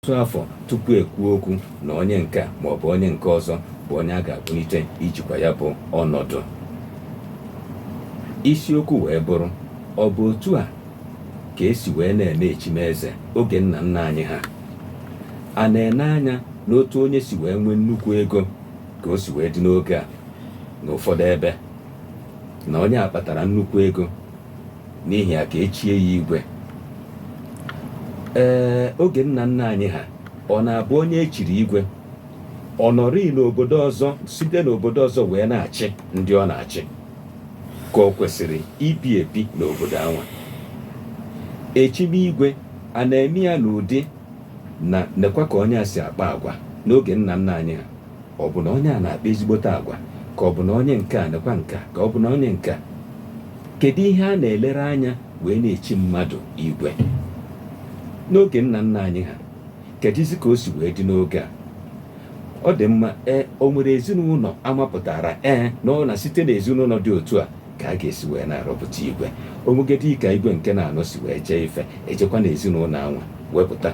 ọtụtụ afọ tupu ekwuo okwu na onye nke a ma ọ bụ onye nke ọzọ bụ onye a ga-akpụlite ijikwa ya bụ ọnọdụ isiokwu wee bụrụ ọ bụ otu a ka esi wee na-eme echimeze oge nna nna anyị ha a na-ene anya n'otu onye si wee nwee nnukwu ego ka o si wee dị n'oge a n'ụfọdụ ebe na onye a kpatara nnukwu ego n'ihi ya ka echie ya igwe ee oge nna nna anyị ha ọ na-abụ onye echiri igwe ọ nọrịị n'obodo ọzọ site n'obodo ọzọ wee na-achị ndị ọ na-achị ka o kwesịrị ibi ebi n'obodo anwa echime igwe a na-eme ya n'ụdị na nekwa ka onye a si akpa agwa n'oge nna nna anyị ha Ọ bụ na onye a na-akpa ezigbote agwa ka ọ bụ na onye nke a nekwa nke a ka ọ bụ na onye nke a kedu ihe a na-elere anya wee na-echi mmadụ igwe n'oge nna nna anyị ha kedụzi ka o si wee dị n'oge a ọ dị mma ee o nwere ezinụlọ amapụtara ee na ọ na site n'ezinụlọ dị otu a ka a ga-esi wee na-arọpụta igwe o nwegodi ka igwe nke na-anọ si wee jee ife ejekwa na ezinụlọ anwa wepụta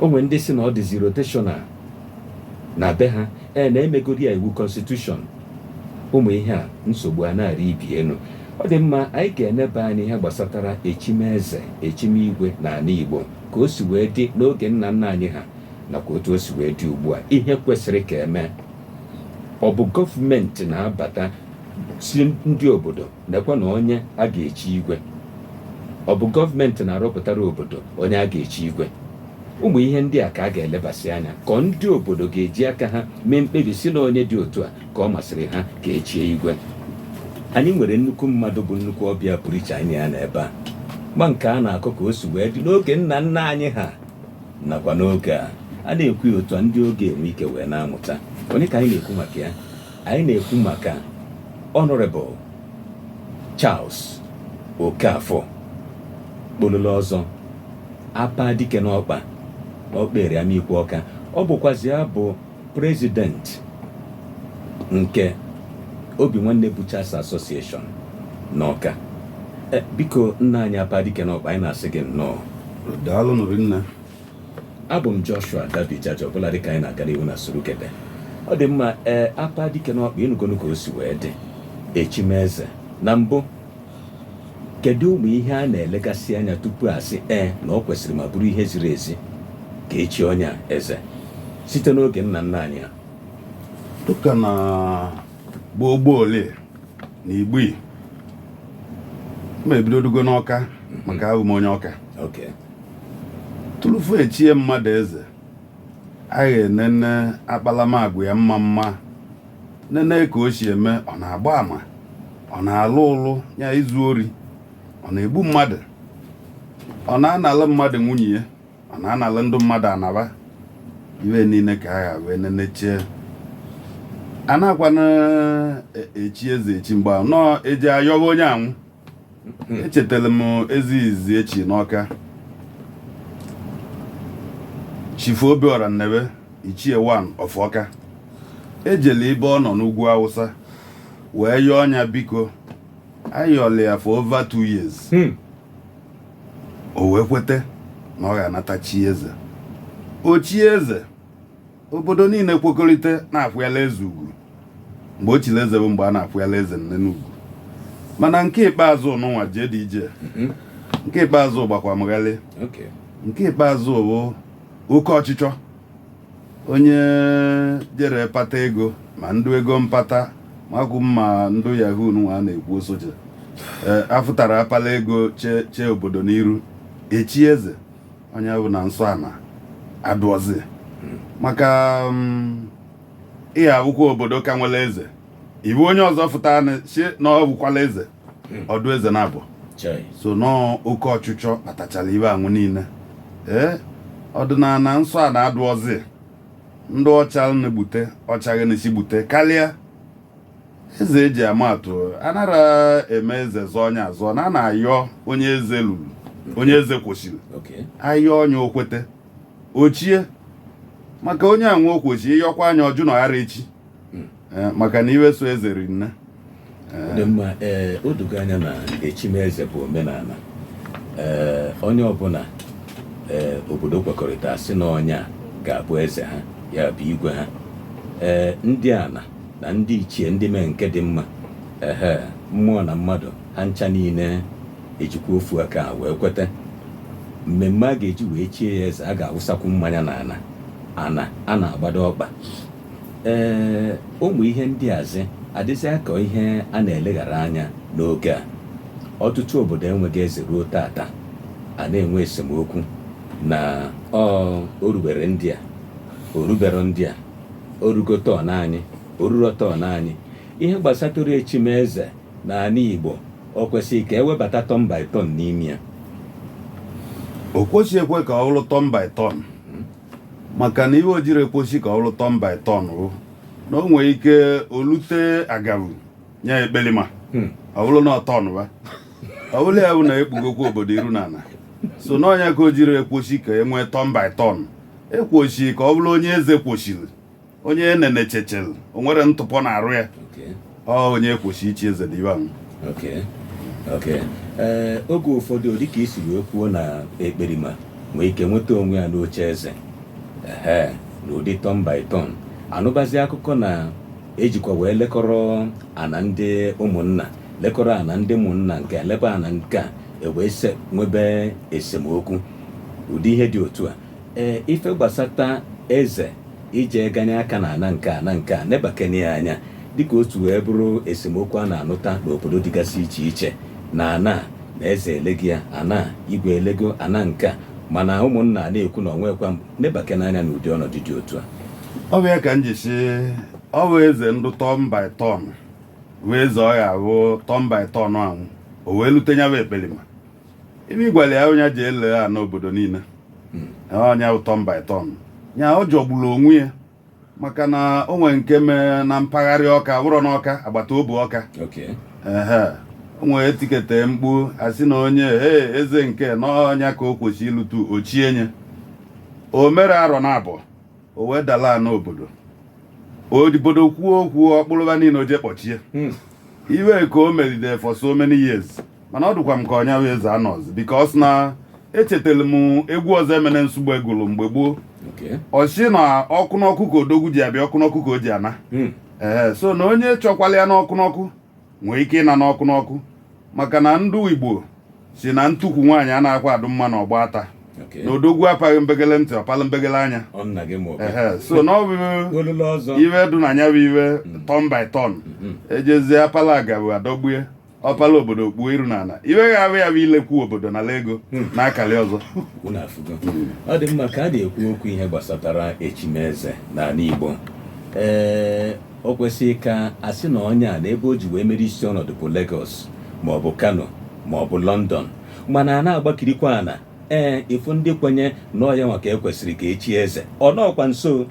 o nwe ndị sị na ọ dịzi rotational na be ha ee na emegodi ya iwu constitution ụmụ ihe a nsogbu a na-arị ibe ya elu ọ dị mma anyị ga-eneba anya ihe gbasatara echimeze echime igwe na ala igbo ka o si wee dị n'oge nna nna anyị ha nakwa otu o si wee dị ugbu a ihe kwesịrị ka emee ọ bụ gọọmenti na-abata sị ndị obodo nekwa na onye a ga-echi igwe ọ bụ gọọmenti na-arọpụtara obodo onye a ga-echi igwe ụmụ ihe ndị a ka a ga-elebasị anya ka ọ ndị obodo ga-eji aka ha mee mkpebi sị na onye dị otu a ka ọ masịrị ha ka echie igwe anyị nwere nnukwu mmadụ bụ nnukwu ọbịa pụrụ iche anyị na ya n'ebe a ma nke a na-akọ ka o si wee dị n'oge nna nna anyị ha nakwa n'oge a a na-ekwu ya otu a ndị oge a enwe ike wee na-amụta onye ka anyị na-ekwu maka ya anyị na-ekwu maka Honorable Charles Okafor kpololo ọzọ apa dike n'ọkpa Okperi Amikwo Ọka ọ bụkwazi ya bụ president nke obi nwanne butchers association n'ọka eh, biko nna anyị apa dike n'ọkpa anyị na-asị gị nnọọ daalụnụ rinne abụ m joshua dabijaja ọbụla dịka anyị na-aga n'ihu na surugede ọ dị mma ee eh, apa dike n'ọkpa ị nụgonu ka o si wee dị echimeze na mbụ Kedu ụmụ ihe a na-elegasị anya tupu a sị ee na ọ kwesịrị ma bụrụ ihe ziri ezi ka e chie onye a eze site n'oge nna nna anyị ha dịka na gboo gboo ole na igbo ma ebido dugo n'ọka maka abụ m onye ọka tụlụfu echie mmadụ eze a ga-enene akpalamagwa ya mma mma nene ka o si eme ọ na-agba ama ọ na-alụ ụlụ ya izu ori ọ na-egbu mmadụ ọ na-analụ mmadụ nwunye ya ọ na-analụ ndị mmadụ ana ba ihe niile ka a ga wee nenechie anakwanụ e- echi eze echi mgbe ahụ nọọ eji ayọba onye anwụ echetara m eze izizi echi n'ọka chifu obiọra nnebe ichie one of ọka ejele ibe ọ nọ n'ugwu awụsa wee yọọ onye a biko ayọla ya for over two years Hmm. o wee kweta na ọ ga-anata chi eze o chie eze obodo niile kwekọrịta na-akwanyala eze ugwu mgbe o chiri eze bụ mgbe a na-akwanyala eze nne n'ugwu mana nke ikpeazụ nụwa jee dị ije mhm. nke ikpeazụ gbakwa m ghalị nke ikpeazụ bụ oke ọchịchọ onye jere pata ego ma ndụ ego mpata makwụ ma ndụ yahoo nwa a na-ekwu osoche e, afụtara apala ego chee obodo n'iru echi eze onye ọbụna nsọ ana adụọzi maka um, ị ya-ahụkwụ obodo ka nwere eze ị hụ onye ọzọ fụta anị si na ọ bụkwala eze ọ dụ eze naabọ Chai. so nọọ oke ọchịchọ kpatachara ihe anwụ niile ee ọdịnala nsọ ana adụọzi ndị ọ cha na-egbute ọ chaghị na-esi gbute karịa eze eji ama atụ anara eme eze zọ onye azọ na a na-ayọ onye eze rulu onye eze kwesịrị Okay. ayọ onye o kwete o chie maka onye anwụ o kwesị ịyọkwa anya ọ jụ na ọ ghara echi Eh, maka na ihe so eze ri nne Ọ dị mma ee o dogo anya na echimeze bụ omenala ee onye ọbụla ee obodo kwekọrịta sị na onye a ga-abụ eze ha ya bụ igwe ha ee ndị ana na ndị ichie ndị mee nke dị mma ehe mmụọ na mmadụ ha ncha niile ejikwa ofu aka wee kweta mmemme a ga-eji wee chie ya eze a ga-awụsakwu mmanya n'ana ana a na-agbado ọkpa ee ụmụ ihe ndị azị adịzị ka ihe a na-eleghara anya n'oge a ọtụtụ obodo enweghị eze ruo tata a na-enwe esemokwu na o o rubere ndị a o rubere ndị a o rugo turn anyị o ruru turn anyị ihe gbasatụrụ echimeze na ala igbo o kwesịrị ka e webata turn by turn n'ime ya o kwesịghị ekwe ka ọ bụrụ turn by turn maka na ihe o jiri ekwesị ka ọ bụrụ turn by turn bụ na o nwere ike o lute agavu onye ekpelima hmm. ọ bụrụ na turn by ọ bụrụ ya bụ na ekpugokwa obodo iru na ala so na ọ nya ka o jiri ekwesị ka e nwee turn by turn e kwoshiri ka ọ bụrụ onye eze kwoshiri onye e nenechechere o nwere ntụpọ n'arụ ya Okay. ọ onye kwoshi ichi eze dị ibe ahụ okay okay ee oge ụfọdụ ọ dịka i si wee kwuo na ekperima nwee ike nweta onwe ya n'oche eze ehe na ụdị turn by turn a nụbazi akụkọ na e jikwa wee lekọrọ ana ndị ụmụnna lekọrọ ana ndị ụmụnna nke a, lekwa ana nke a e wee se nwebe esemokwu ụdị ihe dị otu a ee ife gbasata eze ije ganye aka na ana nke a na nke a nebakene ya anya dịka otu wee bụrụ esemokwu a na-anụta n'obodo dịgasị iche iche na ana a na eze elegi ya ana a igwe elego ana nke a mana ụmụnna a na-ekwu na o nwekwa m nebakene anya n'ụdị ọnọdụ dị otu a ọ bụ ya ka m ji sị ọ bụ eze ndụ turn by turn wee eze ọ ya bụ turn by turn ahụ o wee lute nya bụ ekperima ebe ịgwara ya onye ji ele ana obodo niile hmm. ọ nya bụ turn by turn ya ọ jọgburu onwe ya maka na o nwere nke mee na mpaghara Ọka wụrọ n'Ọka agbata obu Ọka o nwere e tikete mkpu a sị na onye ee eze nke na ọ nya ka o kwesịrị ilutu o chie nya o mere arọ naabọ o wee dala ana obodo ndị obodo kwuo okwu ọ kpụrụ wa niile o je kpọchie hmm. ihe ka o melide for so many years mana ọ dịkwa m ka nya wụ eze anọzi because na echetara m egwu Ọzọemena Nsugbe gụrụ mgbe gboo ọ sị na ọkụ n'ọkụ ka odogwu ji abịa ọkụ n'ọkụ ka o ji ana hmm. ee so na onye chọkwala ya n'ọkụ n'ọkụ nwee ike ịna n'ọkụ n'ọkụ maka na ndụ Igbo sị na ntukwu nwaanyị a na-akwa adụ mma n'ọgba ata na odogwu apaghị mbegele ntị ọ palụ mbegele anya so na ọ bụ ihe dụ na nya bụ ihe mm. turn by turn mm-hmm. e jezie a pala agavu adọgbue ọ pala obodo kpuo iru n'ala ihe ga-abụ ya bụ ilekwu obodo nala ego hmm. na akali ọzọ ọ dị mma ka a na-ekwu okwu ihe gbasatara echimeze n'ala Igbo ee O kwesịrị ka a sị na onye a na ebe o ji wee mere isi ọnọdụ bụ Lagos ma ọ bụ Kano ma ọ bụ London. Mana a na-agbakirikwa ana, ee, ịfụ ndị kwenye na ọ yanwa ka e kwesịrị ka e chie eze. Ọ nọọkwa nso.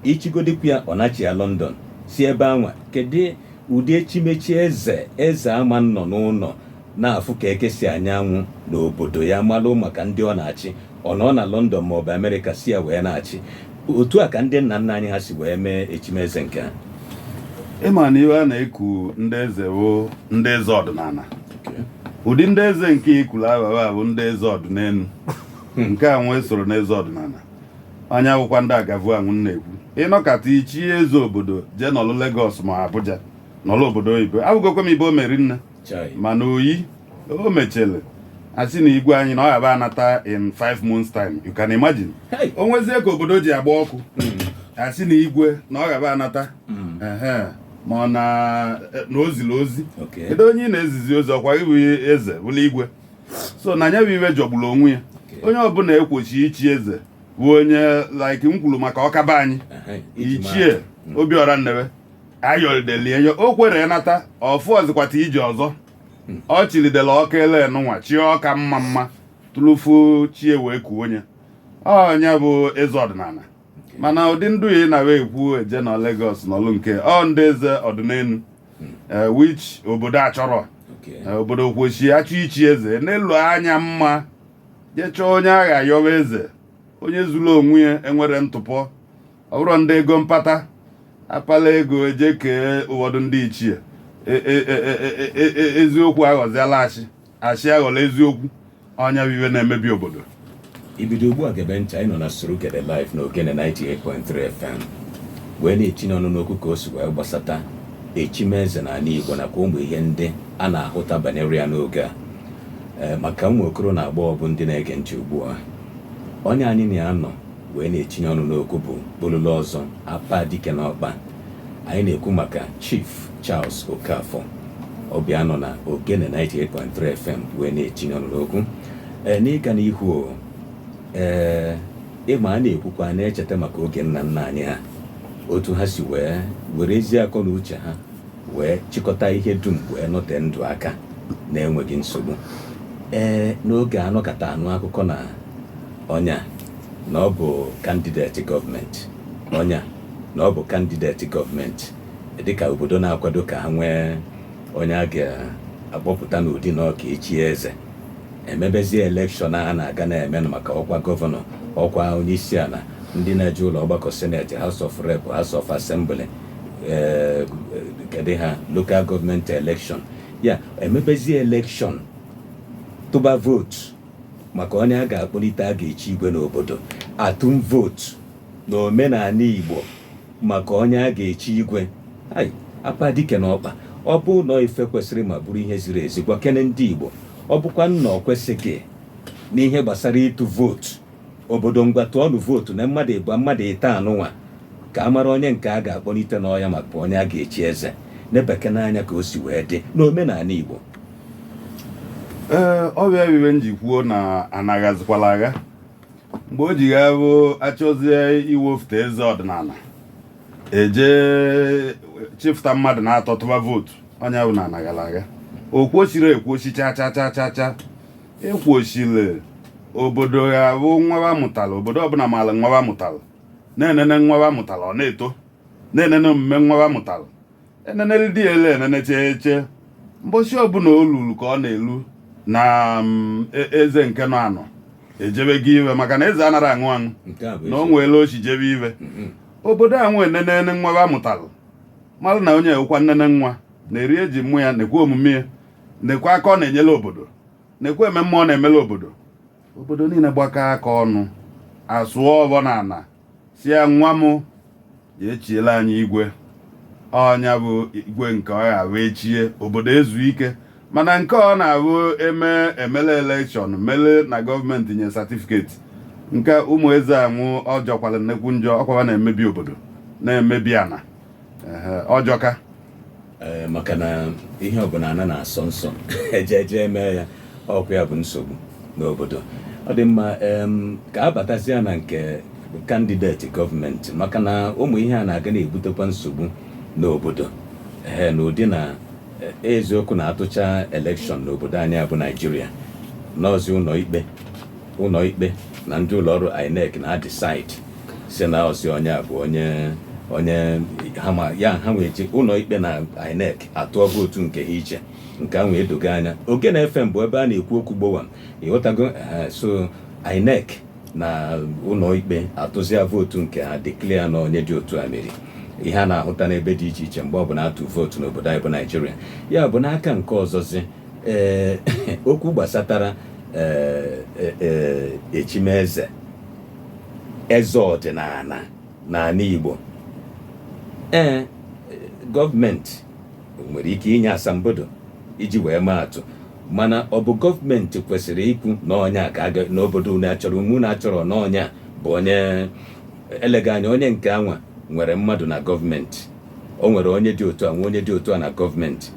I chigodịkwu ya ọ nachia London, si ebe anwa, kedụ ụdị echimechi eze eze ama nnọ n'ụnọ na-afụ ka eke si anya anwụ n'obodo ya, malụ maka ndị ọ na-achị, ọ nọọ na London ma ọ bụ America si ya wee na-achị. Otu a ka ndị nna nna anyị ha si wee mee echimeze nke ha. Ị ma na ive a na-eku ndị eze bụ ndị eze ọdịnala ụdị ndị eze nke i kulu aghọghọ a bụ ndị eze ọdịnelu nke a nwa esoro n'eze ọdịnala ọ nya bụkwa ndị agavu a mụ na-ekwu ị nọkata i chie eze obodo jee nọlụ Lagos ma Abuja nọlụ obodo oyibo abụgokwa m ibe o meri nne mana oyi o mechele a sị na igwe anyị na ọ yaba anata in 5 months time you can imagine o nwezie ka obodo ji agba ọkụ a sị hmm. na igwe na ọ yaba anata hmm. ma ọ na o zili ozi kedu onye ị na-ezizi ozi ọ kwa gị bụ eze bụlụ igwe so na nya bụ ive jọgburu onwe ya onye ọbụla kwesi ichi eze bụ onye like m kwulu maka Ọka be anyị ichie hmm. Obiọra Nnebe a yọlidelie ya o kwere nata ọfụ ọzịkwata ije ọzọ ọ chilidela Ọka ele nụnwa chi Ọka mma mma tupu chi e wee kuo nya ọ nya bụ eze ọdịnala mana ụdị ndị a ị na-ekwu jee na Lagos nọlụ nke ọ ndị eze ọdịnelu eh, which obodo achọrọ Okay. Eh, obodo kwesi achọ ichi eze nelu anya mma jee chọọ onye a ga-ayọwa eze onye zuru onwe ya enwerọ ntụpọ ọ bụrọ ndị ego mpata a pala ego e je kee ụfọdụ ndị ichie e, e, e, eziokwu aghọziala asị asị aghọla eziokwu ọ nya bụ ive na-emebi obodo i bido ugbu a gebe ntị anyị nọ na Surugede live na Ogene 98.3 FM wee na-etinye ọnụ n'okwu ka o si wee gbasata echimeze n'ala Igbo nakwa ụmụ ihe ndị a na-ahụta banyere ya n'oge a maka ụmụ okoro na agbọghọ bụ ndị na-ege ntị ugbu a onye anyị na ya nọ wee na-etinye ọnụ n'okwu bụ Bololo ọzọ apa dike n'ọkpa anyị na-ekwu maka Chief Charles Okafor ọbịa nọ na Ogene 98.3 FM wee na-etinye ọnụ n'okwu ee n'ịga n'ihu ee ị ma a na-ekwukwa na-echeta maka oge nna nna anyị ha otu ha si wee were ezi akọ na uche ha wee chịkọta ihe dum wee nọte ndụ aka na-enweghị nsogbu ee n'oge a nọkata anụ akụkọ na Onye a na ọ bụ candidate government Onye a na ọ bụ candidate government dịka obodo na-akwado ka ha nwee onye a ga-akpọpụta n'ụdị na ọ ga-echi eze e mebezie election a na-aga na-eme maka ọkwa governor ọkwa onye isi ana ndị na-eje ụlọ ọgbakọ Senate House of Rep House of Assembly eh, kedụ ha local government election ya e mebezie election tụba vote maka onye a ga-akpọlite a ga-echi igwe n'obodo atụm vootu na omenala Igbo maka onye a ga-echi igwe ai apa dike n'ọkpa ọ bụ na ife kwesịrị ma bụrụ ihe ziri ezi gwa kene ndị Igbo ọ bụkwanụ na ọ kwesịghị n'ihe gbasara ịtụ vootu obodo ngwa tụọnụ vootu na mmadụ ịbụọ mmadụ ịtọ anụnwa ka a mara onye nke a ga-akpọlite na ọ ya maka onye a ga-echi eze nebekene anya ka o si wee dị n'omenala Igbo ee ọ bụ ya ife m ji kwuo na ana ghazịkwala agha mgbe o ji ya bụ achọzie iwefute eze ọdịnala eje chịfụta mmadụ na-atọ tụba vootu ọnya bụ na ana aghala agha o kwesịrọ ekwesị cha cha cha cha cha ekwesịrị obodo ya bụ nwa ba mụtara obodo ọbụla maara nwa mụtara na-enene nwa ba mụtara ọ na-eto na-enene omume nwa ba mụtara enenelide enene chee chee mbosi ọbụla o luru ka ọ na-elu na mm, e- eze nke nọ anọ ejebego ife maka na eze anaghị anwụ anwụ nke a bụ na o eziokwu. nwere o si jebe ife Mhm. obodo ewee nenene nwa ba mụtara mara na onye a wụkwa nnene nwa na-eri eji mmụ ya nekwe omume ya nekwe aka ọ na-enyela obodo nekwe ememme ọ na-emela obodo obodo niile gbakọ aka ọnụ asụọ ọfọ na ana sị ya nwa m jee chiela anyị igwe ọnya bụ igwe nke ọ ga-abụ echie obodo ezu ike mana nke ọ na-abụ eme emele elekshọn mele na gọọmenti nye satifiketi nke ụmụ eze ahụ ọ jọkwala nnekwu njọ ọkwa ba na-emebi obodo na-emebi ana ọ jọka eh, maka na ihe ọbụla ana na-asọ nsọ eje eje eme ya ọkwa ya bụ nsogbu n'obodo ọ dị mma ka a batazia na nke kandideti gọọmenti maka na ụmụ ihe a na-aga na-ebutekwa nsogbu n'obodo ee eh, n'ụdị na eh, eziokwu na atụcha elekshọn n'obodo anyị bụ naijiria na ọzị ụlọ ikpe ụlọikpe na ndị ụlọọrụ INEC na-adisaidzi na ọzị onye a bụ onye onye hama ya ha ewee ji ụlọikpe na INEC atụọ vootu nke ha iche nke ahụ edogo anya Ogene FM bụ ebe a na-ekwu okwu gbowam ịghọtago so INEC na ụlọikpe atụzia vootu nke ha deklia na onye dị otu a meri ihe a na-ahụta n'ebe dị iche iche mgbe ọ bụla atụ vootu n'obodo anyị bụ naijiria ya bụ n'aka nke ọzọzi ee okwu gbasatara eh, eh, eh, echimeze eze ọdịnala n'ala Igbo ee gọọmenti nwere ike inye asambodo iji wee maa atụ mana ọ bụ gọọmenti kwesịrị ikwu na onye a ga-aga n'obodo unu achọrọ ma unu achọrọ na onye a bụ onye elega anya onye nke anwa nwere mmadụ na gọọmenti o nwere onye dị otu a nwe onye dị otu a na gọọmenti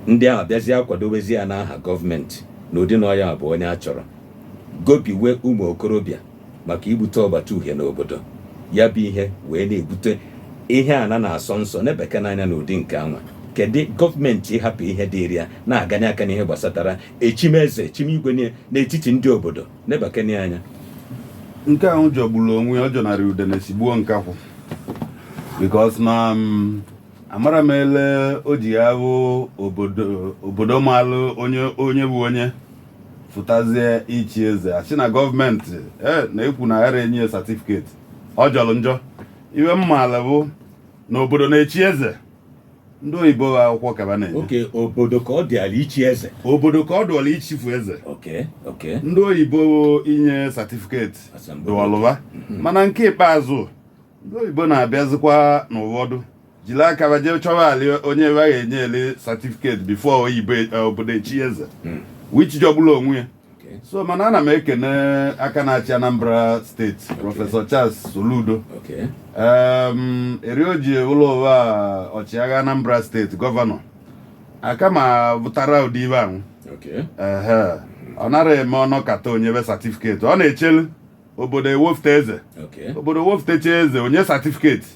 ndị ahụ bịazie akwadobezie ya n'aha gọọmenti n'ụdị na ọ ya bụ onye a chọrọ gobiwe ụmụ okorobịa maka ibute ọgbata uhie n'obodo ya bụ ihe wee na-ebute ihe a na na-asọ nsọ nebekene anya n'ụdị nke anwa kedu gọọmenti ịhapụ ihe dịrị ya na-aganye aka n'ihe gbasatara echimeze echimigwe niile n'etiti ndị obodo nebekene anya nke ahụ jọgburu onwe ya ọ jọnarị udene sigbuo nkakwụ because na um, amara m ele o ji abụ obodo maalụ onye bụ onye fụtazie ichi eze a sị na gọọmenti e na-ekwu na aghara enye ya satifiketi ọ jọrọ njọ ihe m maalụ bụ na obodo na-echi eze ndị oyibo bụ akwụkwọ ka wa na-enye okay obodo ka ọ dịịlị ichi eze obodo ka ọ dụụlụ ichifu eze okay ndị oyibo inye satifiketi Asambodo. dụụlụ wa mana nke ikpeazụ ndị oyibo na-abịazikwa na ụfọdụ jiri aka wa jee chọwalị onye wa ga-enyeli satifiketi before oyibo e- obodo echi eze Mm. which jọgburu onwe ya Okay. so mana ana m ekene aka na-achị anambra steeti prọfesọ charles soludo Okay. Em, eri o ji ụlọ ụwa a, ọchịagha anambra steeti gọvanọ aka m afụtara ụdị ihe ahụ Okay. ehe ọ nara eme ọ nọkata o nyebe satifiketi ọ na-echelu obodo ewefute eze obodo wefutecha eze o nye satifiketi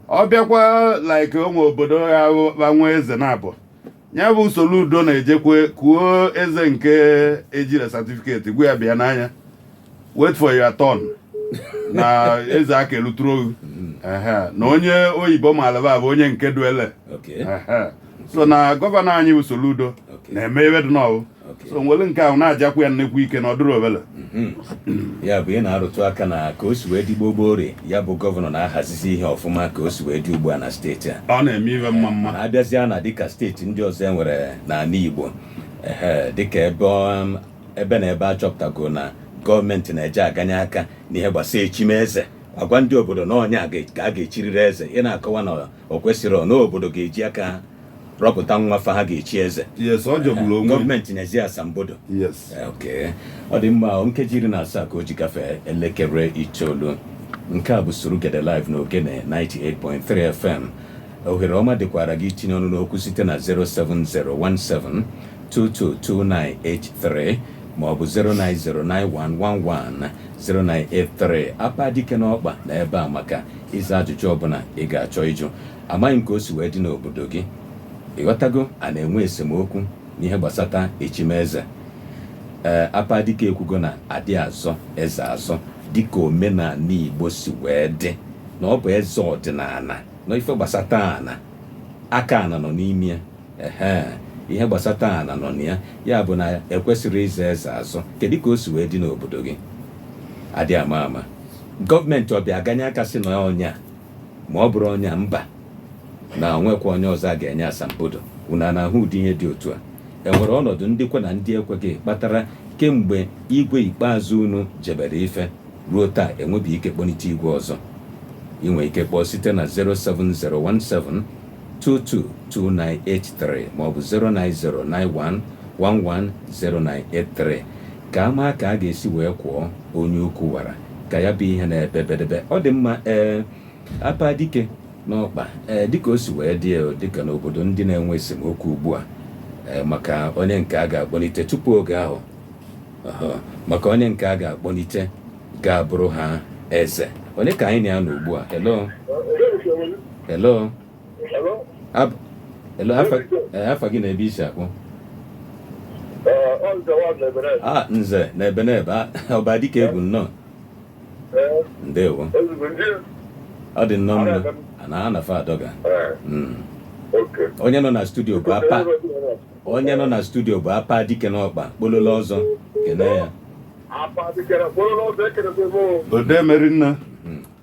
ọ bịakwa like o nwee obodo a ga-enwe eze na abụọ ya bụ soludo na-ejekwe kuo eze nke e jiri satifiketi gwa ya bịa nna anyị wait for your turn na eze aka eluturo gụ mm-hmm. na onye oyibo malaba bụ onye nke duele so na gọvanọ anyị bụ soludo na-eme ihe dị n'ọwụ so m were nke ahụ na-ajakwu ya nnekwu ike na ọ dụrọ obele mhm. ya bụ ị na-arụtụ aka na ka o si wee dị gbogbo ori ya bụ gọvanọ na-ahazizi ihe ọfụma ka o si wee dị ugbu a na steeti a ọ na-eme ihe mma mma na-abịazịa na dịka steeti ndị ọzọ e nwere n'ala Igbo dịka ebe um, ebe na ebe a chọpụtago na gọọmenti na-eje aganye aka n'ihe gbasara echimeze a gwa ndị obodo na onye a ka a ga-echiriri eze ị na-akọwa na o kwesịrị na obodo ga-eji aka rọpụta nwafọ ha ga-echi eze yes ọ jọgburu onwe ya. gọọmenti enyezie asambodo yes Eh, okay. ọ dị mma o, nkeji iri na asaa ka o ji gafee elekere itoolu nke a bụ surugede live na ogene 98.3 fm ohere ọma dịkwara gị itinye ọnụ n'okwu site na 07017222983 maọbụ 09091110983 apa dike nọkwa na ebe a maka ịza ajụjụ ọbụla ị ga-achọ ịjụ Amaghị m ka o si wee dị n'obodo gị. Ị ghọtago? A na-enwe esemokwu n'ihe gbasata echimeze. Ee, Apa Dike ekwugo na adị azọ eze azọ dịka omenala Igbo si wee dị na ọ bụ eze ọdịnala na ife gbasata ana aka ana nọ n'ime ya. Ehe, ihe gbasata ana nọ na ya ya bụ na ekwesịrị ịzọ eze azọ. Kedu ka o si wee dị n'obodo gị? Adị ama ama. Gọọmenti ọ bịa ganye aka sị na ọ onye a Ma ọ bụrụ onye a, mba. Na o nwekwa onye ọzọ a ga-enye asambodo. Unu a na-ahụ ụdị ihe dị otu a? E nwere ọnọdụ ndị kwe na ndị ekweghị kpatara kemgbe igwe ikpeazụ unu jebere ife ruo taa enwebeghị ike kpọlite igwe ọzọ. I nwere ike kpọọ site na 07017 222983 maọbụ 09091 110983. Ka a maa ka a ga-esi wee kuo onye ukwu wara ka ya bụ ihe na-ebe bedebe. Ọ dị mma ee, Apa Dike n'ọkpa ee, dịka o si wee dị e, dịka n'obodo ndị na-enwe esemokwu ugbu a ee, maka onye nke a ga-akpọlite tupu oge ahụ ọhọ, maka onye nke a ga-akpọlite ga-abụrụ ha eze. Onye ka anyị na ya nọ ugbu a? Hello? Hello? afa gị na ebe i si akpọ a nze na ebe na ebe ọba dịka egwu nnọọ ndewo ọ dị nnọọ mma na ha nafa adọga hmm. onye nọ na studio bụ apa onye nọ na studio bụ Apa Dike n'ọkpa kpololo ọzọ kene ya ode merinna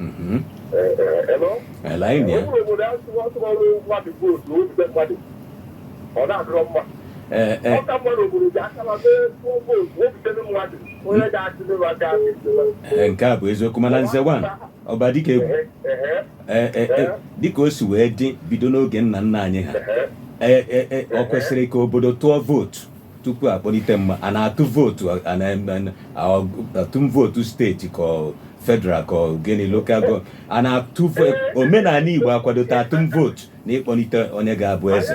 Mm-hmm. Eh, eh. eh, nke a bụ eziokwu mana Nze nwa ọba dịka egwu dịka o si wee dị bido n'oge nna nna anyị ha o kwesịrị ka obodo tụọ vootu tupu akpọlite mmadụ a na-atụ vootu atụm vootu steeti ka federal ka gịnị lokal gọọmenti a na-atụ omenala Igbo akwadota atụm vootu na ịkpọlite onye ga-abụ eze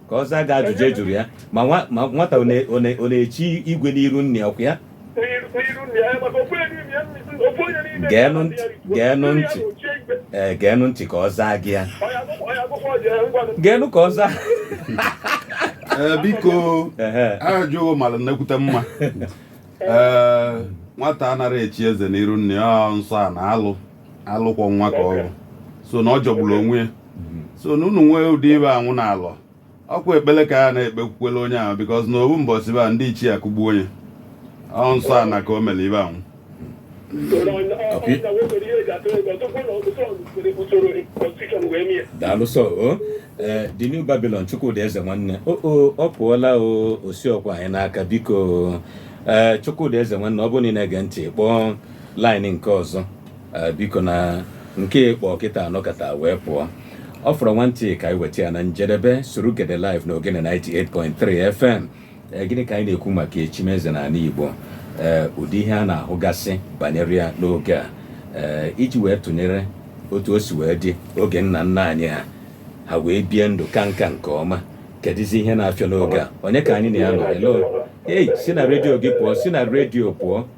ka ọ zaa gị ajụjụ a jụrụ ya ma nwa- ma nwata ọ na- ọ na- ọ na-echi igwe n'iru nna ọkwa ya Geenụ ntị, geenụ ntị. ee geenụ ntị ka ọ zaa gị ya geenụ ka ọ zaa Ee, biko Ehe. ajụjụ gị mara nnekwute mma ee nwata anaghị echi eze n'iru nna ya ọ nsọ na alụ alụ kwọ nwa ka ọ bụ so na ọ jọgburu onwe ya mm-hmm. so na unu nwee ụdị ibe anwụ na alọ ọkwa ekpele ka a na-ekpekwukwele onye ahụ bikọz na ọ bụ mbọsị ba ndị ichie akụgbuo onye ọ nsọ ana ka o mere ibe anwụ daalụ sọ o eh, the new Babylon Chukwudi Eze nwanne o ọ pụọla o osi ọkwa anyị n'aka biko eh, Chukwudi Eze nwanne ọ bụrụ na ị na-ege ntị kpọọ line nke ọzọ eh, biko na nke ị kpọ kịta a nọkata wee pụọ ọ fọrọ nwantị ka anyị weta ya na njedebe Surugede live na Ogene 98.3 fm Eh, gịnị ka anyị na-ekwu maka echimeze na ala Igbo Eh, ụdị ihe a na-ahụgasị banyere ya n'oge a Eh, iji wee tụnyere otu o si wee dị oge nna nna anyị ha ha wee bie ndụ ka nka nke ọma kedụzi ihe na-afịọ n'oge a onye ka anyị na ya nọ hello ei si na redio gị pụọ si na redio pụọ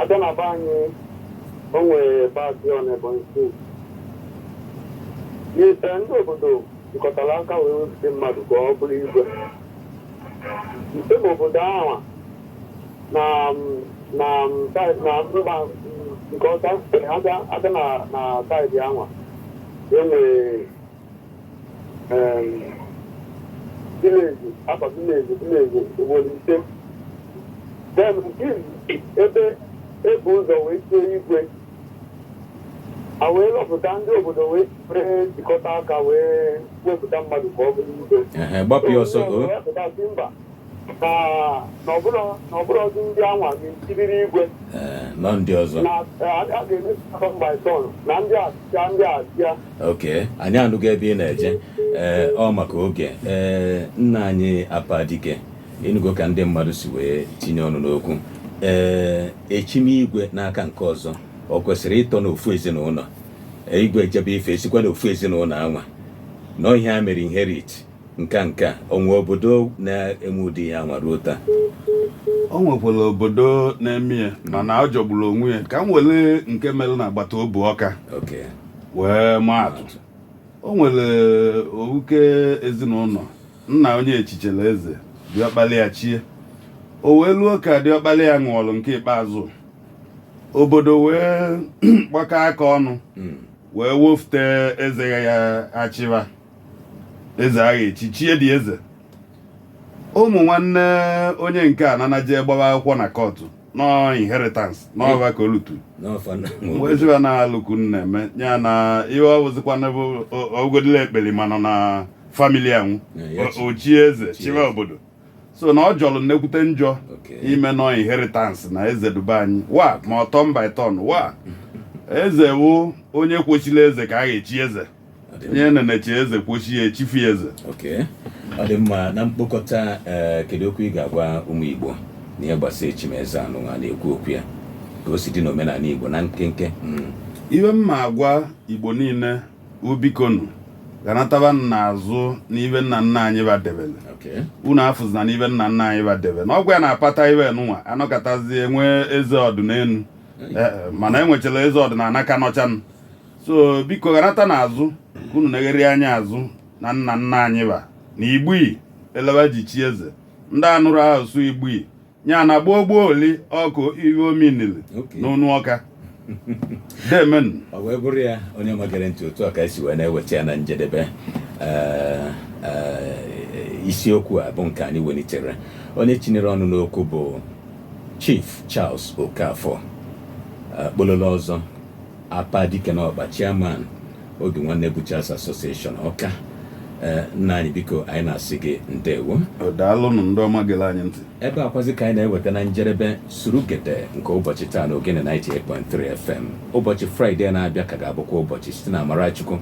a bịa na be anyị o nwere paatị ọ na Ebonyi steeti ndị obodo jikọtara aka wee wepụta mmadụ ka ọ bụrụ igwe nke bụ obodo ahụ na na saịdị na mba nke ọcha sitere ha abịa na na saịdị ahụ e nwere vileji akwa vileji vileji obodo ise then ebe e bu ụzọ wee chie igwe a wee lọpụta ndị obodo wee were jikọta aka wee wepụta mmadụ ka ọ bụrụ igwe ehe gbapụ ya ọsọ o wepụta sị mba na na ọ bụrọ na ọ bụrọzi ndị anwa ga-echiriri igwe Ee, na ọ ndị ọzọ na a ga-eme turn by turn na ndị a chịa ndị a chịa oke anyị anụgo ebe ị na-eje ee ọ maka oge ee nna anyị Apadike ị nụgo ka ndị mmadụ si wee tinye ọnụ n'okwu ee echimigwe n'aka nke ọzọ o kwesịrị ịtọ n'ofu ezinụnọ igwe ejebe ife e sikwa n'ofu ezinụnọ anwa na ọ ihe a mere inherit nka nka o nwe obodo na-eme ụdị ya anwa ruo taa o nwekwara obodo na-eme ya mana ọ jọgburu onwe ya ka m were nke mere na agbata obu Ọka wee maa atụ o nwere ofuke ezinụnọ nna onye echichela eze diọkpala ya chie o wee luo ka diọkpala ya nwụrụ nke ikpeazụ obodo wee gbakọ aka ọnụ Mm. wee wofute eze ya achịwa eze agha echi chie dị eze ụmụ nwanne onye nke a nanaje gbawa akwụkwọ na kọtụ nọ inheritance n'ọba ka olutu eziwa na alụku na-eme ya na ihe ọ bụzikwana bụ ogodila ekpeli ma nọ na famili anwụ o chie eze chiwa obodo so na ọ jọrọ nnekwute njọ ime nọ inheritance na eze duba anyị wa ma ọ turn by turn wa eze wụ onye kwosili eze ka a ga-echi eze nye nenechi eze kwosi echifi eze ọ dị mma na mkpokọta eh, kedu okwu ị ga-agwa ụmụ Igbo na ihe gbasara echimeze anụnwa na-ekwu okwu ya ka o si dị n'omenala Igbo na nkenke hmm. iwe m ma-agwa Igbo niile wụ bikonụ ganataba n'azụ n'ibe nna nna anyị ba debele unu afụzina n'ibe nna nna anyị ba debele na ọ wụ ya na-apata iwe nụnwa anọkọtazie nwee eze ọdịnelu eh, eh, mana enwechara eze ọdịnala ka nọchanụ so biko ganata n'azụ ka unu negharị anya azụ na nna nna anyị ba na igbui elewa ji chi eze ndị anụrụ asụsụ igbui ya na gboo gboo oli ọkụ ihe ominili Okay. n'onu Ọka demenụ ọ wee bụrụ ya onye ọma gere ntị otu a ka e si wee na-eweta ya na njedebe Ee, ee, isiokwu a bụ nke anyị welitere onye tinyere ọnụ n'okwu bụ Chief Charles Okafor akpololo ọzọ Apa dike na ọkpa chairman Obi Nwanne Butchers Association Ọka eh, nna anyị biko anyị na-asị gị ndewo daalụnụ ndị ọma gere anyị ntị ebe a kwazị ka anyị na-eweta na njedebe Surugede nke ụbọchị taa na Ogene 98.3 FM ụbọchị fraịde na-abịa ka ga-abụkwa ụbọchị site na amara Chukwu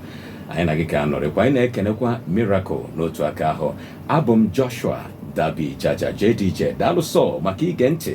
anyị na gị ga-anọrịkwa anyị na-ekenekwa Miracle n'otu aka ahụ abụ m Joshua Dabi Jaja JDJ daalụ sọ maka ige ntị